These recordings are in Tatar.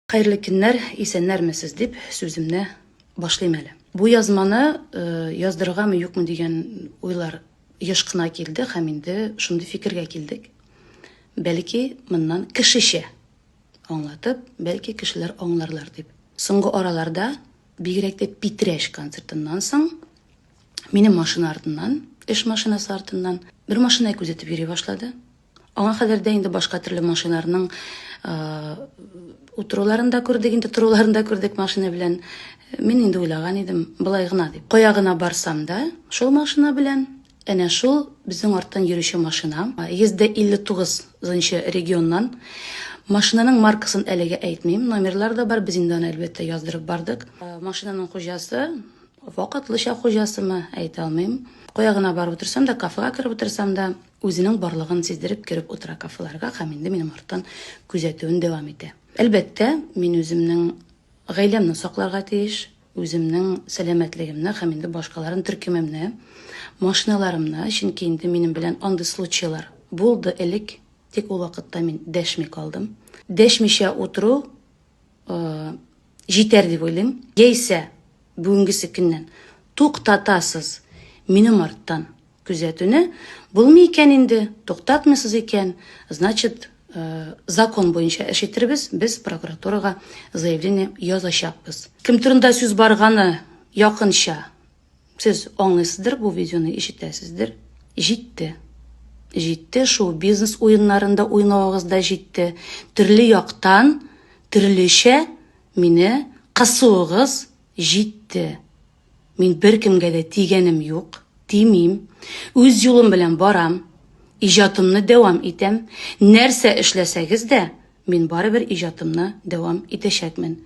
Хәерле көннәр, исәннәрмесез дип сүземне башлыйм әле. Бу язманы э, яздыргамы юкмы дигән уйлар еш кына килде һәм инде шундый фикергә килдек. Бәлки моннан кешечә аңлатып, бәлки кешеләр аңларлар дип. Соңгы араларда бигрәк тә Питрәш концертыннан соң минем машина артыннан, эш машинасы артыннан бер машина күзәтеп йөри башлады. Аңа кадәр дә инде башка төрле машиналарның утыруларын да күрдек, инде торуларын да күрдек машина белән. Мин инде уйлаган идем, былай гына дип. Кая гына барсам да, шул машина белән Әнә шул безнең арттан йөрүче машина, 159 нчы регионнан. Машинаның маркасын әлегә әйтмим, номерлар да бар, без инде аны әлбәттә яздырып бардык. Э, машинаның хуҗасы, вакытлыча хуҗасымы, әйтә алмыйм. Кая гына барып утырсам да, кафега кереп утырсам да, Үзенең барлыгын сиздереп кереп утыра кафеларга һәм инде минем арттан күзәтүен дәвам итә. Әлбәттә, мин үземнең гаиләмне сакларга тиеш, үземнең сәламәтлегемне һәм инде башкаларын төркемемне, машиналарымны, чөнки инде минем белән андый случайлар булды элек, тик ул вакытта мин дәшми калдым. Дәшмичә утыру җитәр дип уйлыйм. Яисә бүгенгесе көннән туктатасыз минем арттан күзәтүне. Булмый икән инде, туктатмыйсыз икән, значит, э, закон буенча эш итербез, без прокуратурага заявление язачакбыз. Кем турында сүз барганы якынча Сез аңлыйсыздыр бу видеоны, ишетәсездер. Җитте. Җитте, шул бизнес уеннарында уйнавыгыз да җитте. Төрле яктан, төрлечә мине кысуыгыз җитте. Мин беркемгә дә тигәнем юк, тимим. Үз юлым белән барам. Иҗатымны дәвам итәм. Нәрсә эшләсәгез дә, мин барыбер иҗатымны дәвам итәчәкмен.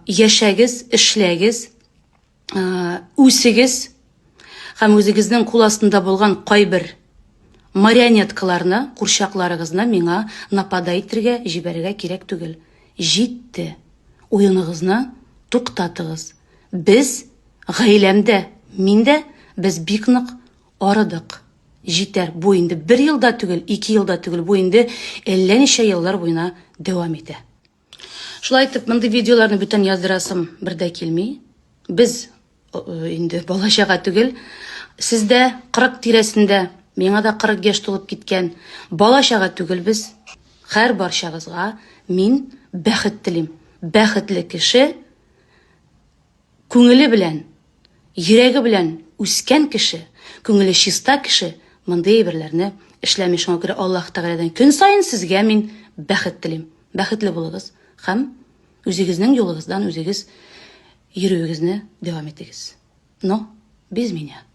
Яшәгез, эшләгез, үсегез һәм үзегезнең кул астында булган кайбер марионеткаларны, курчакларыгызны миңа напада итергә, җибәрергә кирәк түгел. Җитте. Уеныгызны туктатыгыз. Без гаиләмдә, мин дә без бик нык арыдык. Җитәр. Бу инде бер елда түгел, ике елда түгел, бу инде әллә ничә еллар буена дәвам итә. Шулай итеп, мондый видеоларны бүтән яздырасым бер дә килми. Без э, инде балачага түгел. Сездә 40 тирәсендә, миңа да 40 яшь тулып киткән. Балачага түгел без. Хәр барчагызга мин бәхет телим. Бәхетле кеше Күңеле белән, йөрәге белән үскән кеше, күңеле чиста кеше мондый әйберләрне эшләми. Шуңа күрә Аллаһ Тәгаләдән көн саен сезгә мин бәхет телим. Бәхетле булыгыз һәм үзегезнең юлыгыздан үзегез йөрүегезне дәвам итегез. Но без меня.